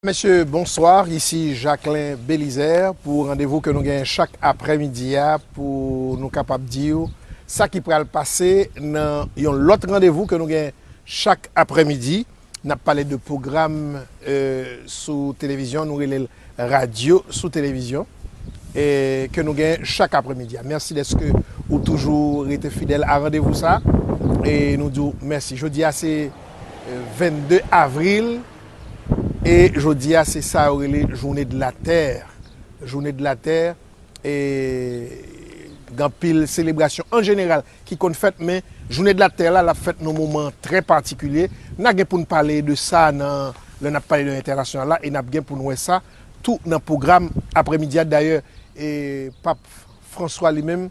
Mesye bonsoir ici Jacquelin Belizaire pou randevou ke nou genyen chak aprè midi a pou nou kapab diw sa ki pral pase nan yon lòt randevou ke nou gen chak aprè midi nap pale de pwogram sou televizyon nou relel radyo sou televizyon ke nou gen chak aprè midi a mèsi dèske ou toujou rete fidèl a randevou sa nou diw mèsi jodi a se 22 avril. E jodi a se sa yo rele joune de la tè, joune de la tè e gan pil selebrasyon an jeneral ki konn fèt men joune de la tè la lap fèt nan moman trè patikilye na gen poun pale de sa nan lè nap pale de entènasyonal la e nap gen poun wè sa tou nan pwogram aprè midi a dayè e pap François li menm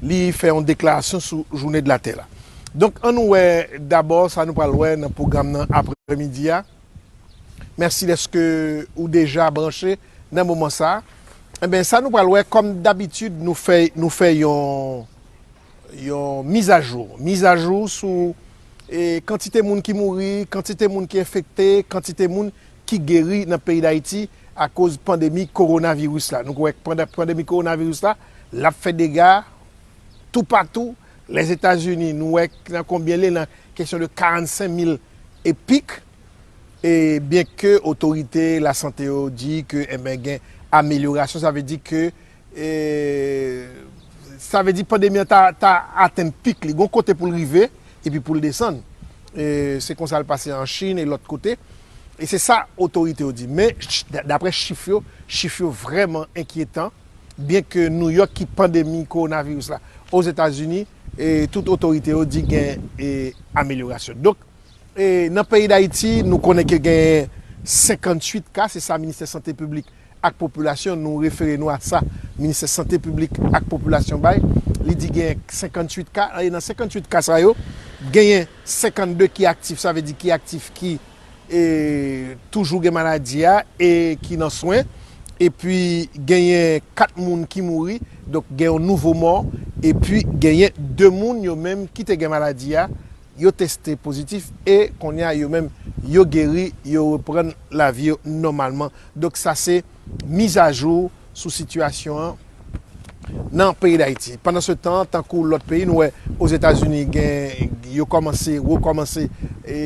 li fè yon deklarasyon sou joune de la tè la. Donk an nou wè dabò sa nou pral wè nan pwogram nan aprè midi a. Mèsi dèske ou deja branche nan moman sa. Enben sa nou pral wè kòm dabitid nou fè nou fè yon yon mizajou, mizajou sou kantite moun ki mouri, kantite moun ki enfekte, kantite moun ki geri nan peyi Dayiti akoz pandemi kowonaviris la. Nou kwè k pandan pandemi kowonaviris la, l ap fè dega toupatou. Lèzetazini, nou wè k nan konbyen l ye nan kesyon de 45 mil e pik. E byenke otorite lasante yo di ke enben gen amelyorasyon, sa vle di ke. E sa vle di pandemi an ta atenn pik li. Gon kote pou l rive epi pou l desann. E se konsa l pase an Chin e lòt kote. E se sa otorite yo di. Men, dapre chif yo, chif yo vrèman enkyetan. Byen ke New York ki pandemi kowonaviris la Ozetazini, e tout otorite yo di gen amelyorasyon. Donk, nan peyi Dayiti, nou konnen ke genyen 58 ka, se sa Ministè Sante Piblik ak popilasyon, nou refere nou a sa Ministè Sante Piblik ak Popilasyon bay, li di genyen 58 ka, e nan 58 ka sa yo, genyen 52 ki aktif, sa vle di ki aktif ki toujou gen maladi a e ki nan swen, epi genyen 4 moun ki mouri, donk gen yon nouvo mò, epi genyen 2 moun yo menm ki te gen maladi a, yo teste pozitif e kounye a yo menm yo geri, yo reprann lavi yo nòmalman. Donk sa se mizajou sou sitiyasyon an nan peyi Dayiti. Pandan se tan, tankou lòt peyi, nou wè Ozetazini gen yo kòmanse, rekòmanse e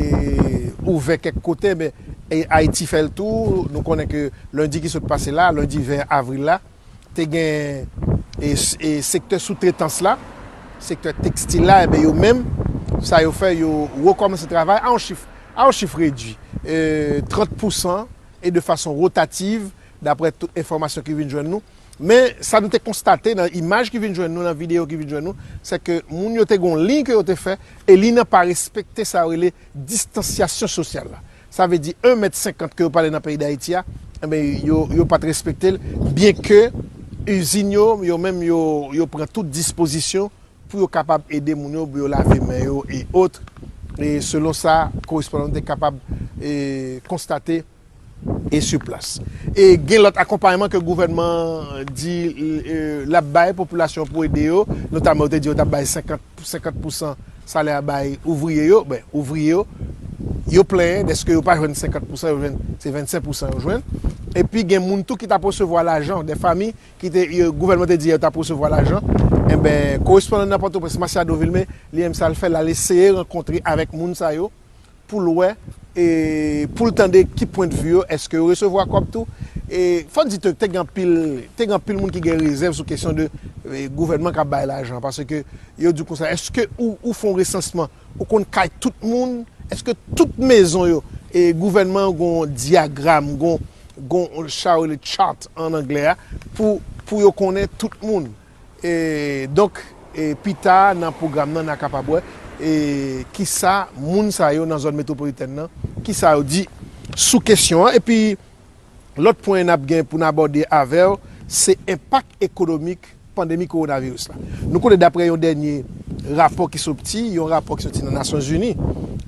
ouvè kèk kote men Ayiti fè l tou. Nou konnen ke lendi ki sot pase la, lendi 20 avril la, te gen e sektè soutretans la, sektè tekstil la enben yo menm sa yo fè yo rekòmanse travay a yon chif a yon chif redui e 30 pousan. e de fason rotativ daprè tout enfòmasyon ki vin jwenn nou, men sa nou te konstate nan imaj ki vin jwenn nou, nan videyo ki vin jwenn nou, se ke moun yo te gen yon liy ke yo te fè, e liy nan pa respekte sa yo rele distansyasyon sosyal la. Sa vle di 1 mèt 50 ke yo pale nan peyi Dayiti a, enben yo pat respekte l, byenke izin yo, yo menm yo pran tout dispozisyon pou yo kapab ede moun yo pou yo lave men yo e ot e selon sa korespondan nou te kapab e konstate e sou plas. E gen lòt akonpayman ke gouvènman an di e lap bay popilasyon pou ede yo, notaman yo te di yo tap bay 50 pou 50 pousan salè a bay ouvriye yo, ben ouvriye yo yo plenyen dèske yo pa jwenn 50 pousan yo jwenn se 25 pousan yo jwenn. Epi gen moun tou ki tap resevwa lajan, dè fami ki te yo gouvènman te di yo tap resevwa lajan enben korespondan nan pòtoprens Masiado Vilme li menm sal fè lal eseye rankontre avèk moun sa yo poul wè e poul tande ki pwent vi yo eske yo resevwa kòb tou e fòn di tou te gen anpil te gen anpil moun ki gen rezèv sou kesyon de gouvènman kap bay lajan paske yo di konsa eske ou fon resansman Ou konn kay tout moun? Eske tout mezon yo e gouvènman yo gon diagram, gon gon sa yo rele chart an anglè a pou pou yo konnen tout moun? E donk e pi ta nan pwogram nan na kapab wè e ki sa moun sa yo nan zòn metwopolitèn nan ki sa yo di sou kesyon an. Epi lòt pwen n ap gen pou n abòde avè w se enpak ekonomik pandemi kowonaviris la. Nou konnen daprè yon dènye rapò ki sopti, yon rapò ki soti nan Nasyon Zini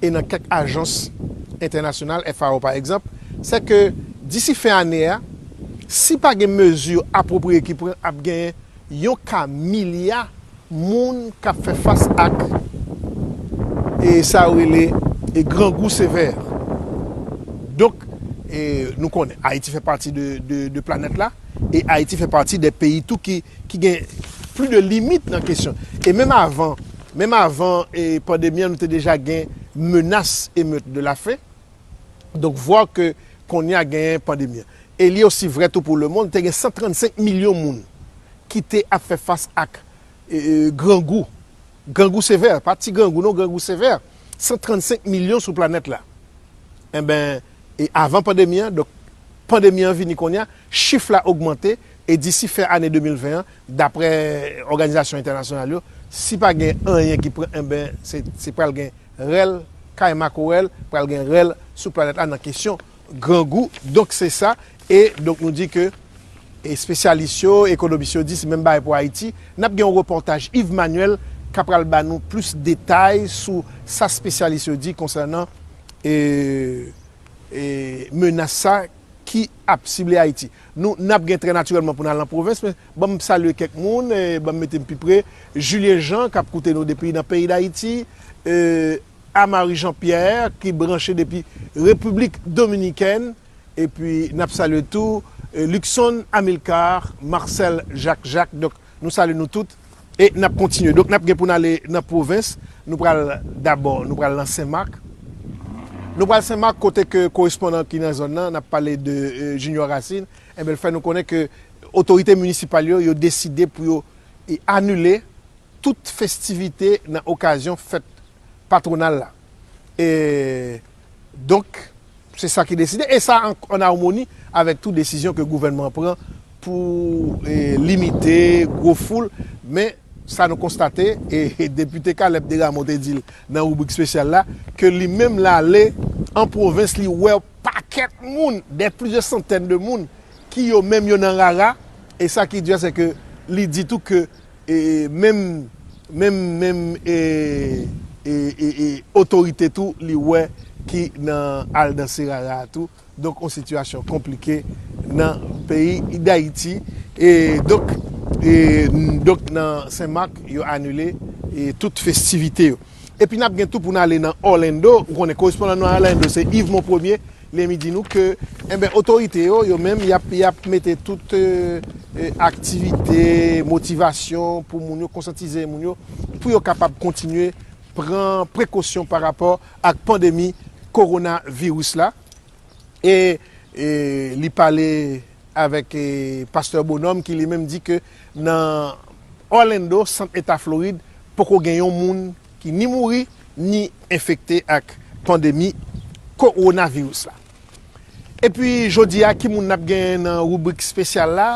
e nan kèk ajans entènasyonal, FAO pa egzanp, sè ke disi fen ane a, si pa gen mezi apwopriye ki pran ap genyen yon ka milya moun k ap fè fas ak e sa yo rele e grangou sevè. Donk e nou konnen Ayiti fè pati de planèt la. e Ayiti fè pati de peyi tou ki ki gen pli de limit nan kesyon e menm avan menm avan e pandemi an nou te deja gen menas emeut de la fen donk vwa ke kounye a genyen pandemi an e li osi vre tou pou le mond te gen 135 milyon moun ki te ap fè fas ak e grangou. Grangou sevè, pa ti grangou non grangou sevè, 135 milyon sou planèt la. Enben, e avan pandemi an, donk pandemi an vini konnya, chif la ogmante e disi fen ane 2020 an, daprè òganizasyon entènasyonal yo, si pa gen anyen ki pran enben se pral gen rèl kay makorèl, pral gen rèl sou planèt la nan kesyon grangou donk se sa e donk nou di ke espesyalis yo ekonomis yo di se menm bagay pou ayiti nap gen yon repòtaj Yves Manuel ka pral ba nou plis detay sou sa espesyalis yo di konsènan ee menas sa ki ap sible ayiti nou nap gen trè natirèlman pou nou al nan pwovens men banm salye kèk moun banm mete m pi pre Julien Jean kap koute nou depi nan peyi dayiti ee. Amaury Jean Pierre ki branche depi Repiblik Dominikèn epi n ap salye tou Luckson Amilcar, Marcel Jacques Jacques donk nou salye nou tout e n ap kontinye donk n ap gen pou n ale nan pwovens nou pral dabò nou pral nan Senmak nou pral Senmak kote ke korespondan ki nan zòn nan n ap pale de Junior Racine enben l fè nou konnen ke otorite minisipal yo yo deside pou yo anile tout festivite nan okazyon fèt patwonal la. E donk, se sa ki deside e sa an armoni avèk tou desizyon ke gouvènman an pran pou limite gwo foul. Men, sa nou konstate, e Depite Caleb Desrameaux te di l nan ribrik spesyal la, ke li menm l ale an pwovens li wè yon pakèt moun, dè plizyè santèn de moun ki yo menm yo nan rara. E sa ki di a se ke li di tou ke E menm menm menm e e e e otorite tou li wè ki nan al danse rara a tou. Donk on sitiyasyon konplike nan peyi Dayiti. E donk e donk nan Sen Mak yo anile e tout festivite yo. Epi n ap gen tou pou n ale nan Orlando, ou konnen korespondan nou nan Orlando se Yves Monpremier, li enmi di nou ke enben otorite yo, yo menm y ap y ap mete tout aktivite, motivasyon pou moun yo, konsantize moun yo pou yo kapab kontinye pran prekosyon pa rapò ak pandemi kowonaviris la. e li pale avèk pastè Bonhomme ki li menm di ke nan Orlando, sant eta Florid, poko gen yon moun ki ni mouri, ni enfekte ak pandemi kowonaviris la. Epi jodi a ki moun nap genyen nan ribrik spesyal la?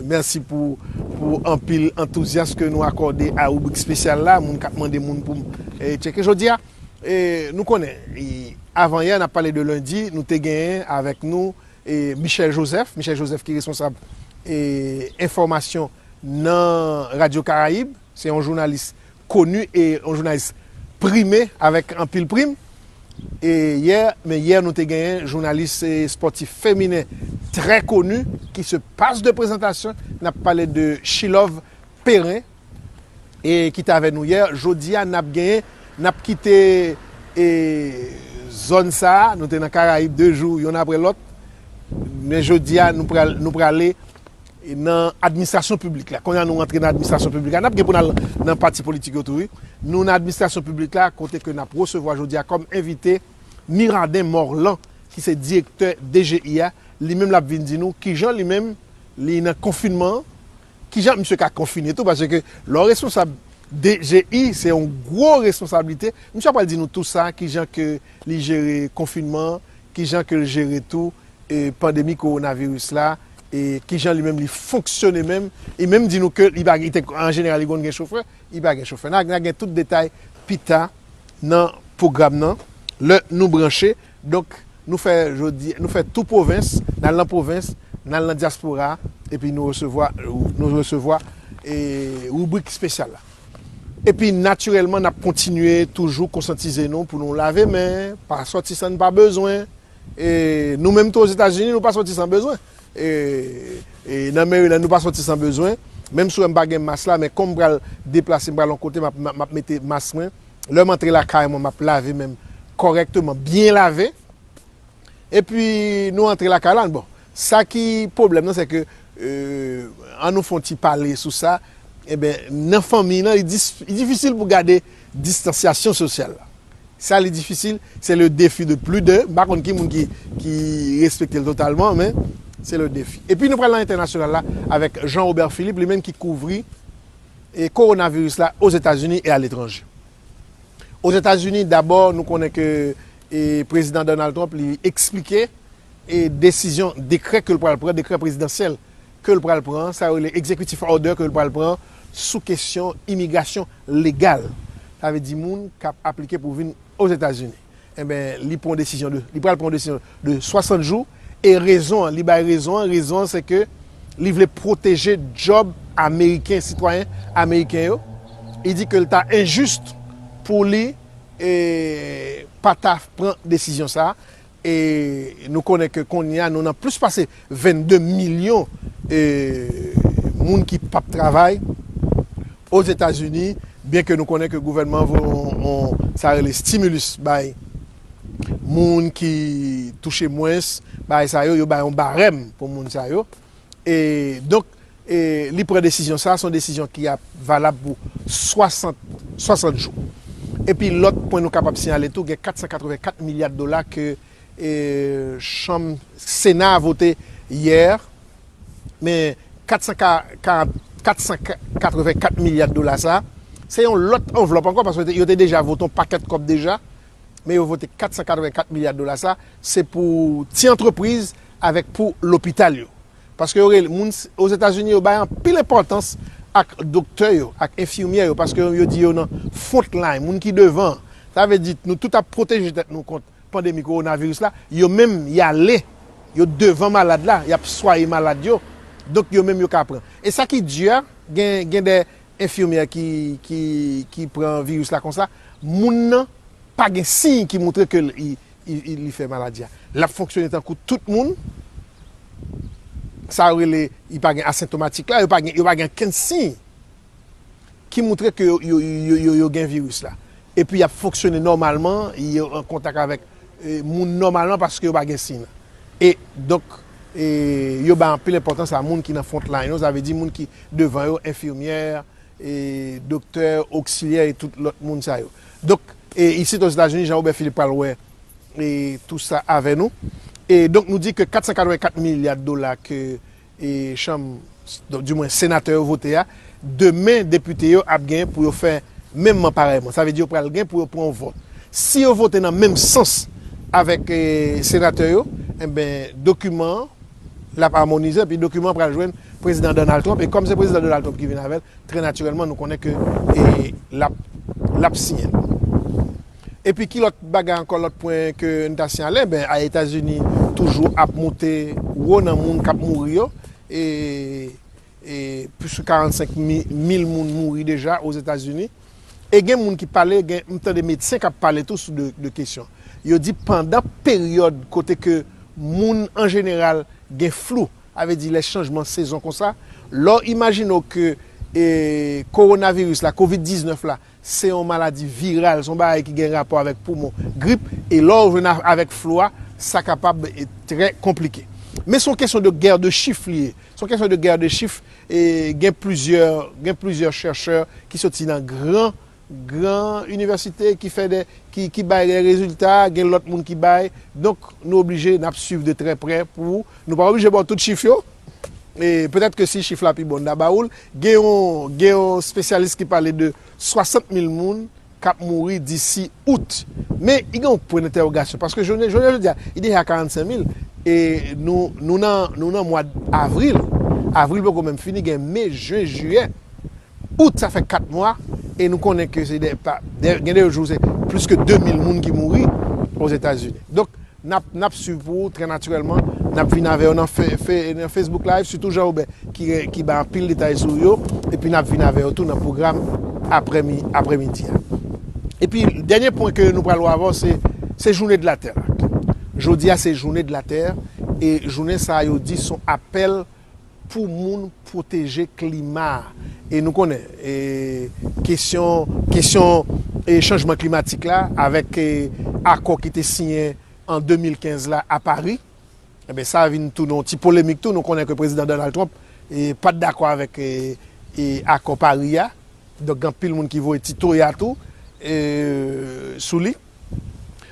Mèsi pou anpil antouzyas ke nou akòde a ribrik spesyal la, moun kap mande moun poum tcheke jodi a. Nou konnen, avan yè, n ap pale de lendi, nou te genyen avèk nou Michel Joseph, Michel Joseph ki responsab enfòmasyon nan Radyo Karayib, se yon jounalis koni e yon jounalis prime avèk anpil prim. E yè, men yè nou te genyen jounalis espòtif feminen trè koni ki se pas de prezantasyon, n ap pale de Chilove Perrin. E ki te avè nou yè. Jodi a, n ap gen, n ap kite e zòn sa a. Nou te nan Karayib de jou yonn apre lòt. Men jodi a, nou pral, nou prale nan administrasyon piblik la. Kounye a nou antre nan administrasyon piblik la. N ap gen pou n al nan pati politik yo tou wi. Nou nan administrasyon piblik la kote ke n ap resevwa jodi a kòm envite Mirardin Morlan ki se direktè DGI a. Li menm l ap vin di nou kijan li menm li nan konfinman an. Kijan misye ka konfine tou paske lè w responsab DGI se yon gwo responsablite, misye ap pral di nou tou sa kijan ke li jere konfinman, kijan ke l jere tou pandemi kowonaviris la e kijan li menm li fonksyone menm, li menm di nou ke li pa gen, an jeneral li konn gen chofè, li pa gen chofè. N a gen tout detay pita nan pwogram nan lè nou branche. Donk nou fè jodi nou fè tou pwovens, n al nan pwovens, n al nan dyaspora epi nou resevwa nou resevwa ribrik espesyal la. Epi natirèlman n ap kontinye toujou konsantize nou pou nou lave men, pa sòti san n pa bezwen. E nou menm tou Ozetazini nou pa sòti san bezwen. E nan Maryland nou pa sòti san bezwen. Menm si w wè m pa gen mas la men kòm m pral deplase m pral yon kote m ap mete mas mwen. Lè m antre lakay mwen, m ap lave men m kòrèkteman, byen lave. Epi nou antre lakay la, bon, sa ki pwoblèm nan, se ke, an nou fè yon ti pale sou sa, enben, nan fanmiy lan, li difisil pou gade distansyasyon sosyal la. Sa li difisil, se le defi de pli de, m pa konn ki moun ki respekte l totalman, men, se le defi. Epi nou pral nan entènasyonal la avèk Jean Robert Philippe, li menm ki kouvri Kowonaviris la Ozetazini e aletranje. Ozetazini dabò nou konnen ke Prezidan Donald Trump li eksplike desizyon dekrè ke l pral pran, dekrè prezidansyèl ke l pral pran, sa yo rele executive order ke l pral pran sou kesyon imigrasyon legal. Sa vle di moun k ap aplike pou vin Ozetazini. Enben li pran yon desizyon de, li pral pran yon desizyon de 60 jou e rezon an, li bay rezon an, rezon an se ke li vle pwoteje djòb ameriken, sitwayen ameriken yo, li di ke li ta enjis pou li pa ta pran desizyon sa a e nou konnen ke kounye a nou nan plis pase 22 milyon moun ki p ap travay Ozetazini, byen ke nou konnen ke gouvènman an voye yon sa rele stimulus bay moun ki touche mwens, bagay sa yo, yo bay yon barèm pou moun sa yo. E donk li pran desizyon sa, se yon desizyon ki ap valab pou 60 jou. Epi lòt pwen nou kapab siyale tou gen 484 milya dola ke chanm sena a vote yè men 484 milya dola sa se yon lòt anvlòp ankò paske yo te deja vote yon pakèt kòb deja men yo vote 484 milya dola sa se pou ti antrepriz avèk pou lopital yo paske yo rele moun ozetazini yo bay anpil enpòtans ak doktè yo ak enfimyè yo paske yo di yo nan fwont lay moun ki devan sa vle di nou tout ap pwoteje tèt nou kont pandemi kowonaviris la, yo menm y ale, yo devan malad la, y ap swaye malad yo, donk yo menm yo ka pran. E sa ki di a, gen dè enfimyè ki pran viris la konsa, moun nan pa gen siy ki moutre ke li fè maladi a. L ap fonksyone tankou tout moun, sa yo rele, li pa gen asentomatik la, yo pa gen okenn siy. ki moutre ke yo gen viris la. Epi y ap fonksyone nòmalman, yo an kontak avèk moun nòmalman paske yo pa gen siy lan. E donk, yo bay anpil enpòtans a moun ki nan front line yo, sa vle di moun ki devan yo, enfimyè, doktè, oksilyè e tout lòt moun sa yo. Donk, isit Ozetazini, Jean Robert Philippe pral wè tou sa avè nou. E donk nou di ke 484 milya dola ke chanm, di mwen senatè yo vote a, demen depite yo ap gen pou yo fè menmman parèyman. Sa vle di yo pral gen pou yo pran yon vòt. Si yo vote nan menm sans avèk senatè yo, enben dokiman an l ap amonize epi dokiman an pral jwenn Prezidan Donald Trump e kòm se Prezidan Donald Trump ki vin avè l, trè natirèlman nou konnen ke l ap siyen l. Epi ki lòt bagay ankò lòt pwen ke n ta siyale ben a Etazini toujou ap moute wo nan moun k ap mouri yo e e plis ke 45 mil moun mouri deja Ozetazini e gen moun ki pale gen m tande medsen k ap pale tou sou de kesyon yo di pandan peryòd kote ke moun an jeneral gen flou sa vle di lè chanjman sezon konsa lè w imajine w ke e kowonaviris la covid 19 la Se yon maladi viral, se yon bagay ki gen rapò avèk poumon, grip, e lè ou jwenn avèk flu a, sa kapab trè konplike. Men se yon kesyon de guerre de chiffres li ye, se yon kesyon de guerre de chiffres, e gen plizyè, gen plizyè chèrchè ki soti nan gran, gran inivèsite ki fè dè, ki, ki bay dè rezilta, gen lòt moun ki bay, donk nou oblije, n ap swiv de trè prè pou, nou pa oblije ba w tout chif yo, e petèt ke si chif la pi bon n ta ba ou l, gen yon gen yon spesyalis ki pale de 60 mil moun k ap mouri disi Out. Men gen yon pwen dentèwogasyon paske jounen jounen jodi a li deja 45 mil e nou nou nan nou nan mwad Avril, Avril poko menm fini gen Me, Jen, Jiyè. Out sa fè 4 mwa e nou konnen ke se gen de jou se plis ke 2 mil moun ki mouri ozetazini. Donk nap nap swiv pou ou trè natirèlman nap vin avèw nan Facebook live sitou Jean Robert ki bay anpil detay sou yo epi nap vin avèw tou nan pwogram aprè midi a. Epi dènye pwen ke nou pral wè avèw se se joune de la tè la. Jodi a se joune de la tè e joune sa yo di son apèl pou moun pwoteje klima a. E nou konnen e kesyon kesyon e chanjman klimatik la avèk e akò ki te siyen an 2015 la a Pari, enben sa vin tounen yon ti polemik tou. Nou konnen ke Prezidan Donald Trump e pa t dakò avèk e e akò Pari a. Donk gen anpil moun ki voye ti toya tou e sou li.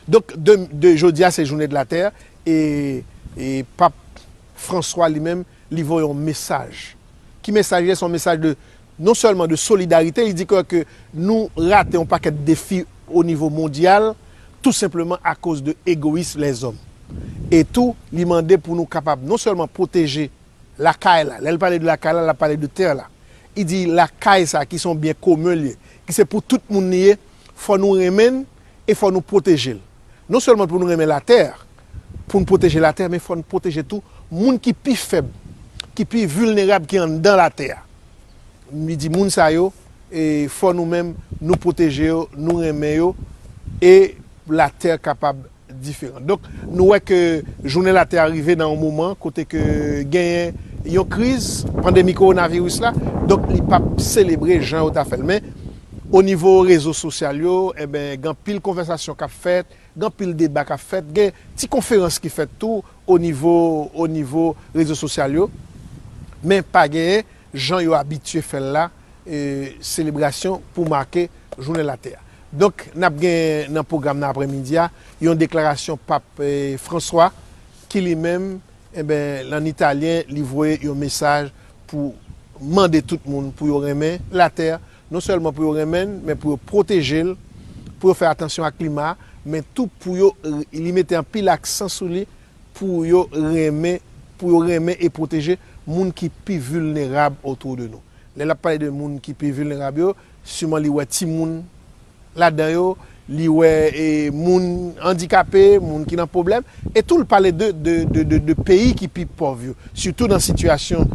Donk de de jodi a se joune de la tè e e p ap. François li menm li voye yon mesaj. Ki mesaj li ye? Se yon mesaj de non sèlman de solidarite, li di kò ke nou rate yon pakèt defi o nivo mondyal tou senpleman akoz de egoyism lèzòm. E tou li mande pou nou kapab non sèlman pwoteje lakay la, lè l pale de lakay la, l ap pale de tè la. Li di lakay sa ki se yon byen komen li ye, ki se pou tout moun li ye, fò nou renmen l, e fò nou pwoteje l. Non sèlman pou nou renmen latè, pou n pwoteje latè men fò n pwoteje tou moun ki pi fèb, ki pi vilnerab ki anndan latè a. Li di moun sa yo fò nou menm nou pwoteje yo, nou renmen yo e latè kapab diferan. Donk nou wè ke jounen latè a rive nan yon moman kote ke genyen yon kriz, pandemi kowonaviris la, donk li p ap selebre jan yo ta fè l men O nivo rezo sosyal yo, enben, gen anpil konvèsasyon k ap fèt, gen anpil deba k ap fèt, gen ti konferans ki fèt tou o nivo o nivo rezo sosyal yo, men pa gen, jan yo abitye fè l la, selebrasyon pou make Jounen Latè a. Donk, n ap gen nan pwogram nan aprè midi a, yon deklarasyon Pap François ki li menm, enben, an Italyen, li voye yon mesaj pou mande tout moun pou yo renmen latè, non sèlman pou yo renmen l, men pou yo pwoteje l, pou yo fè atansyon ak klima, men tou pou yo, li mete anpil aksan sou li, pou yo renmen, pou yo renmen e pwoteje moun ki pi vilnerab otwo de nou. Lè l ap pale de moun ki pi vilnerab yo, siman li wè timoun ladan yo li wè moun andikape, moun ki nan pwoblèm, e tou l pale de peyi ki pi pòv yo, sitou nan sitiyasyon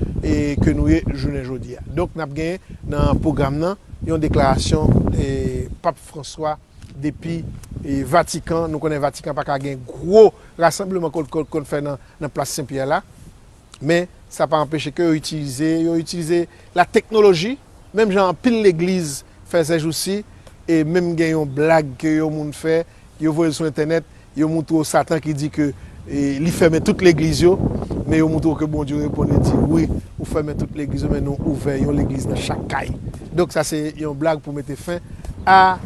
ke nou ye jounen jodi a. Donk n ap gen nan pwogram nan yon deklarasyon Pap Franswa depi Vatikan, nou konnen Vatikan pa ka gen gwo rasanbleman ke l konn fè nan Plas Sen Pyè la, Men, sa pa anpeche ke yo itilize, yo itilize la teknoloji, menm jan anpil legliz fè sèjousi, e menm gen yon blag ke yon moun fè, yo voye l sou entènèt, yo moutre w Satan ki di ke li fèmen tout legliz yo, men yo moutre w ke Bondye reponn li di, wi, ou fèmen tout legliz yo, men nou ouvè yon legliz nan chak kay. Donk sa se yon blag pou mete fen a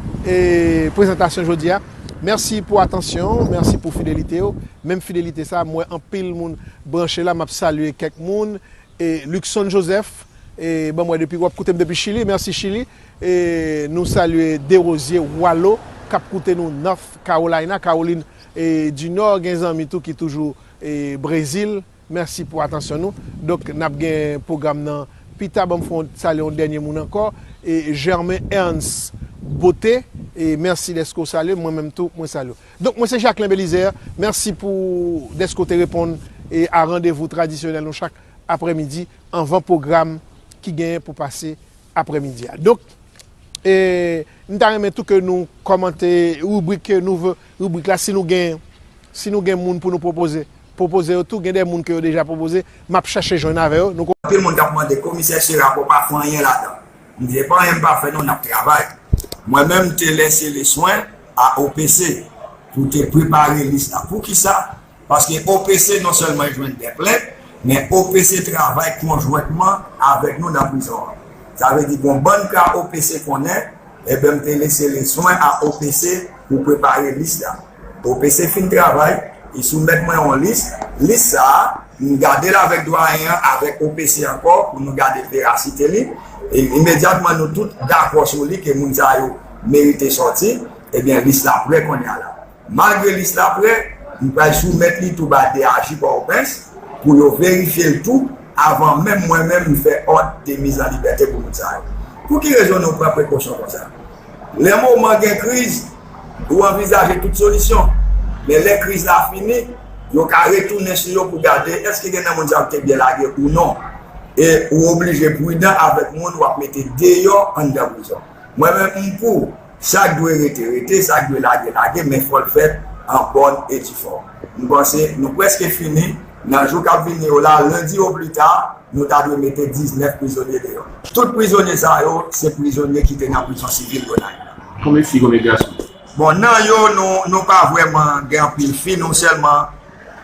prezantasyon jodi a. Mèsi pou atansyon w, mèsi pou fidelite w, menm fidelite sa a m wè anpil moun Branche la map salye kèk moun e Luckson Joseph e banm wè depi wap koutem depi chili merci chili e nou salye Derosier Walo kap koute nou North Carolina Caroline e du Nord gen zanmi tou ki toujou e Brésil merci pou atansyon nou donk nap gen program nan pita banm fon salye yon dènye moun ankò e Germain Ernst Beauté e merci deske ou salyem mwen menm tou mwen salye ou. Donk mwen se Jacquelin Belizaire, mèsi pou dèske w te reponn a randevou tradisyonèl nou chak aprè midi anvan pwogram ki genyen pou pase aprè midi a. Donk m ta renmen tou ke nou kòmante ribrik ke nou vle, ribrik la si nou gen si nou gen moun pou nou pwopoze, pwopoze yo tou, gen de moun ke yo deja pwopoze, m ap chache jwenn avè yo. Anpil moun t ap mande komisè Chira bon pa fon anyen ladan. M di epa anyen m pa fè non nap travay. Mwen menm m te lese le swen a OPC pou te prepare lis la. Poukisa? Paske OPC non sèlman jwenn de plent, men OPC travay konjwentman avèk nou nan prizon an. Sa vle di gon bann ka OPC konnen, enben m te lese le swen a OPC pou prepare lis la. OPC fin travay, li soumèt mwen yon lis, lis sa a, m gade l avèk Dwayen an, avèk OPC ankò pou nou gade verasite li, e imedyatman nou tout dakò sou li ke moun sa yo merite sòti, ebyen lis la prè konnya la. Malgre lis la prè, m pral soumèt li tou ba DAJ Pòtoprens pou yo verifye l tou avan menm mwen menm m fè òd de mizanlibète pou moun sa yo. Pou ki rezon nou pran prekosyon konsa? Lè moman gen kriz, ou anvizaje tout solisyon. Men lè kriz la fini, yo ka retounen sou yo pou gade èske gen nan moun sa yo ki te byen lage ou non. E ou oblije pridan avèk moun w ap mete deyò anndan prizon. Mwen menm m pou, sa k dwe rete rete, sa k dwe lage lage men fò l fèt an bòn e difòm. M panse nou prèske fini, nan jou k ap vini yo la, lendi oplita, Nou ta dwe mete 19 prizonye deyò. Tout prizonye sa yo se prizonye ki te nan prizon sivil Gonayiv la. Konbyen fi konbyen gason? Bon nan yo nou nou pa vrèman gen anpil fi nou sèlman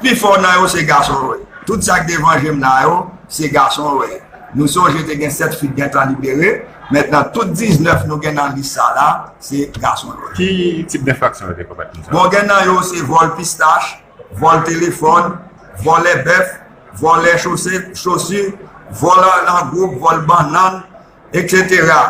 pi fò nan yo se gason yo ye. Tout sa k devan je m la yo se gason yo ye. Nou sonje te gen 7 fi k gentan libere. Mentnan tout 19 nou gen nan lis sa la se gason yo ye. Ki tip denfraksyon yo te komèt konsa? Bon gen nan yo se vòl pistach. Vòl telefòn, vòlè bèf, vòlè chosu, vòl nan gwoup, vòl bannann, eksetera,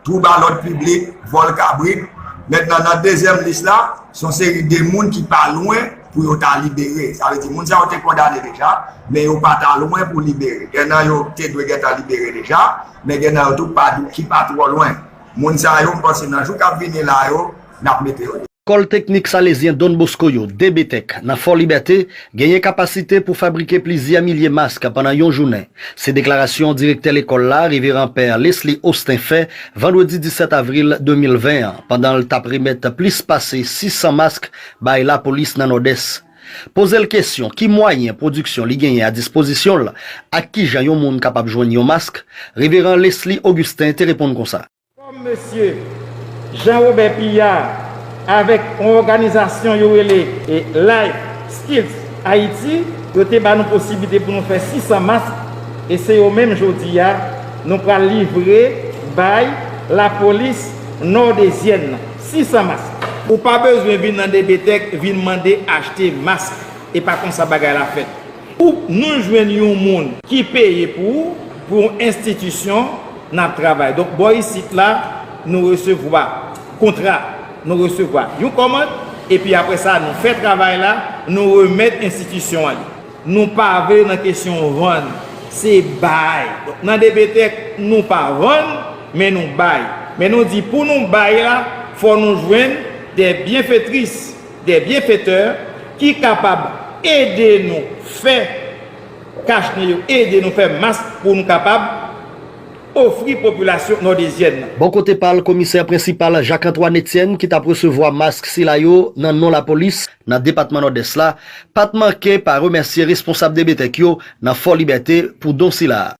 twouba lòd piblik, vòl kabrit. Mentnan nan dezyèm lis la, s on seri de moun ki pa lwen pou yo ta libere. Sa vle di moun sa yo te kondane deja, men yo pa ta lwen pou libere. Gen nan yo te dwe gentan libere deja, men gen nan yo tou ki pa twò lwen. Moun sa yo, m panse nan jou k ap vini la yo, n ap mete yo deyò. Lekòl Teknik Salezyen Don Bosco yo, DBTEC, nan Fò Libète, genyen kapasite pou fabrike plizyè milye mask pandan yon jounen. Se deklarasyon direktè lekòl la, Reveran Pè Lesly Austin fè, vandredi 17 avril 2020 an, pandan l t ap remèt plis pase 600 mask bay lapolis nan Nòdès. Poze l kesyon ki mwayen pwodiksyon li genyen a dispozisyon l, ak kijan yon moun kapab jwenn yon mask, Reveran Lesly Augustin te reponn konsa. Kòm mesye Jean Robert Pillar avèk yon òganizasyon yo rele Life Skills Haiti yo te ba nou posiblite pou nou fè 600 mask e se yo menm jodi a nou pral livre bay lapolis nòdezyèn nan. 600 mask. Ou pa bezwen vin nan DBTEC vin mande achte mask. E pa konsa bagay la fèt. Ou pnn jwenn yon moun ki peye pou ou pou yon enstitisyon nap travay donk bò isit la nou resevwa kontra nou resevwa yon kòmand epi aprè sa nou fè travay la nou remèt enstitisyon an li nou pa vle nan kesyon vann se bay donk nan depetèk nou pa vann men nou bay men nou di pou nou bay la fò nou jwenn dè byenfetris Des bienfaiteurs ki kapab ede nou fè kach nou yo ede nou fè mas pou nou kapab ofri popilasyon nòdezyèn nan. Bò kote pa l, komisè prensipal Jacques Antoine Etienne ki t ap resevwa mask sila yo nan non lapolis nan depatman Nòdès la, pa t manke pa remèsye responsab DBTEC yo nan Fò Libète pou don sila.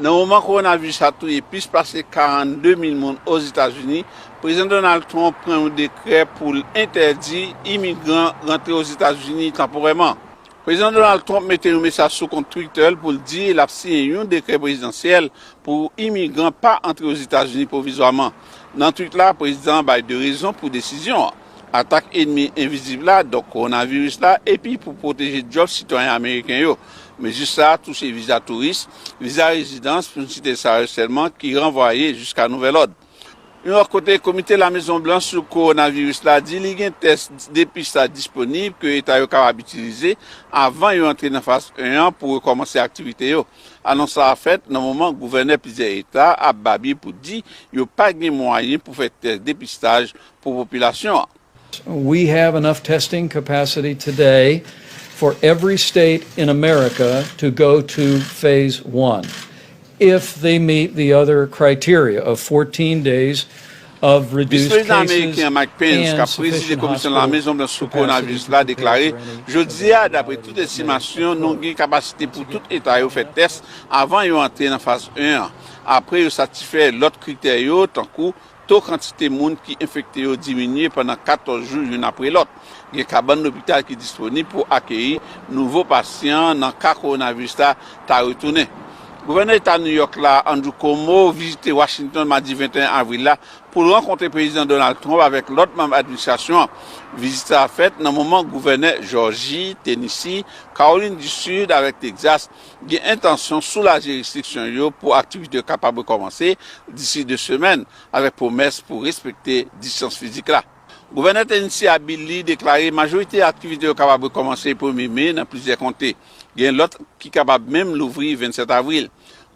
Nan moman kowonaviris la touye plis pase 42 mil moun Ozetazini, Prezidan Donald Trump pran yon dekrè pou l entèdi imigran rantre Ozetazini tanporèman. Prezidan Donald Trump mete yon mesaj sou kont Twitter l pou l di l ap siyen yon dekrè prezidansyèl pou imigran pa antre Ozetazini pwovizwaman. Nan tweet la, prezidan an bay 2 rezon pou desizyon an. atak enmi envizib la, donk kowonaviris la, epi pou pwoteje djòb sitwayen ameriken yo. Mezi sa a touche viza touris, viza rezidans, pou n site sa yo sèlman, ki ranvwaye jiska nouvèl òd. Yon lòt kote, Komite Lamezon Blanch sou Kowonaviris la di li gen tès depistaj disponib ke eta yo kapab itilize avan yo antre nan faz 1 an pou rekòmanse aktivite yo. Anons sa a fèt nan moman gouvènè plizyè eta ap babye pou di yo pa gen mwayen pou fè tès depistaj pou popilasyon an. We have enough testing capacity today for every state in America to go to phase one if they meet the other criteria of 14 days of reduced cases and sufficient hospital capacity. Vis Prezidan Ameriken Mike Pence kap prezize Komisyon La Mezon Blanch sou Kowonaviris la deklare jodi a dapre tout estimasyon nou gen kapasite pou tout eta yo fè tès avan yo antre nan faz 1 an apre yo satisfè lòt kritè yo tankou To kantite moun ki enfekte yo diminye pandan 14 jou youn apre lòt. Gen kabann lopital ki disponib pou akeyi nouvo pasyan nan ka kowonaviris la ta retounen. Gouvènè Eta New York la, Andrew Cuomo, vizite Washington madi 21 avril la pou l rankontre Prezidan Donald Trump avèk lòt manm administrasyon an. Vizit sa a fèt nan moman gouvènè Jòji, Tennessee, Kawolin di Sid avèk Texas gen entansyon soulaje restriksyon yo pou aktivite yo kapab rekòmanse disi 2 semèn, avèk pwomès pou respekte distans fizik la. Gouvènè Tennessee a Bill Lee deklare majorite aktivite yo kapab rekòmanse premye me nan plizyè konte, gen lòt ki kapab menm louvri 27 avril.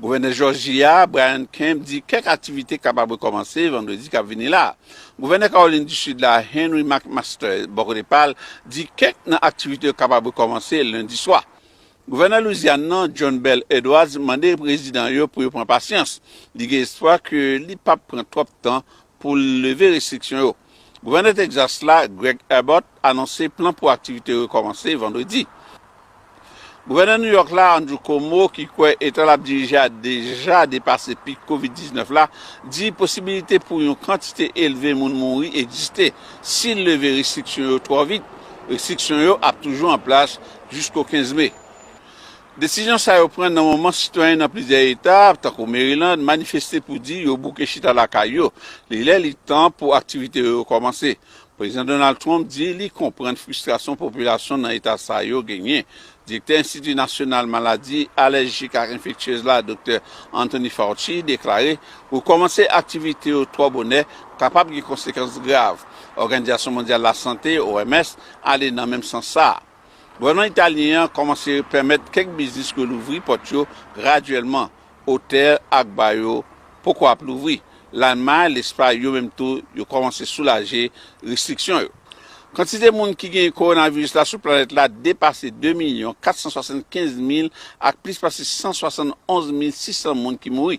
Gouvènè Jòji a Brian Kemp di kèk aktivite kapab rekòmanse vandredi k ap vini la a. Gouvènè Kawolin di Sid la Henry McMaster bò kote pa l di kèk nan aktivite yo kapab rekòmanse lendi swa. Gouvènè Louisiane nan, John Bel Edwards, mande rezidan yo pou yo pran pasyans. Li gen espwa ke li pap pran twòp tan pou l leve restriksyon yo. Gouvènè Texas la, Greg Abbott, anonse plan pou aktivite yo rekòmanse Vandredi. Gouvènè New York la, Andrew Cuomo, ki kwè eta lap dirije a deja depase pik Covid 19 la, di posibilite pou yon kantite elve moun mouri egziste si l leve restriksyon yo twò vit. Restriksyon yo ap toujou an plas jisko 15 me. Desizyon sa yo pran nan moman sitwayen nan plizyè eta, tankou Maryland, manifeste pou di yo bouke chita lakay yo, li lè li tan pou aktivite yo rekòmanse. Prezidan Donald Trump di li konprann fristrasyon popilasyon nan eta sa yo genyen. Direktè Enstiti Nasyonal Maladi Alèjik ak Enfektyez la, Doktè Anthony Fauci, deklare rekòmanse aktivite yo twò bonè kapab gen konsekans grav. Òganizasyon Mondyal Lasante, OMS, Ale nan menm sans sa a, gouvènman italyen an kòmanse pèmèt kèk biznis relouvri pòt yo gradyèlman, otèl ak ba yo poko ap louvri. Lalmay, Lespay yo menm tou yo kòmanse soulaje restriksyon yo. Kantite moun ki genyen kowonaviris la sou planèt la depase 2 milyon 475 mil ak plis pase 171 mil 600 moun ki mouri.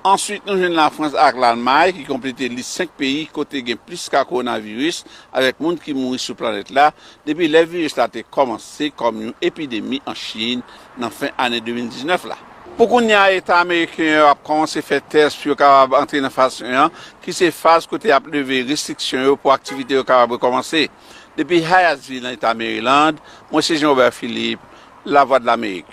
Answit nou jwenn Lafrans ak Lalmay ki konplete lis 5 peyi kote gen plis ka kowonaviris avèk moun ki mouri sou planèt la depi lè viris la te kòmanse kòm yon epidemi an Chin nan fen ane 2019 la. Pou kounya eta ameriken yo ap kòmanse fè tès pou yo kapab antre nan faz 1 an ki se faz kote y ap leve restriksyon yo pou aktivite yo kapab rekòmanse. Depi Hyattsville nan eta Maryland, mwen se Jean Robert Philippe, Lavwadlamerik.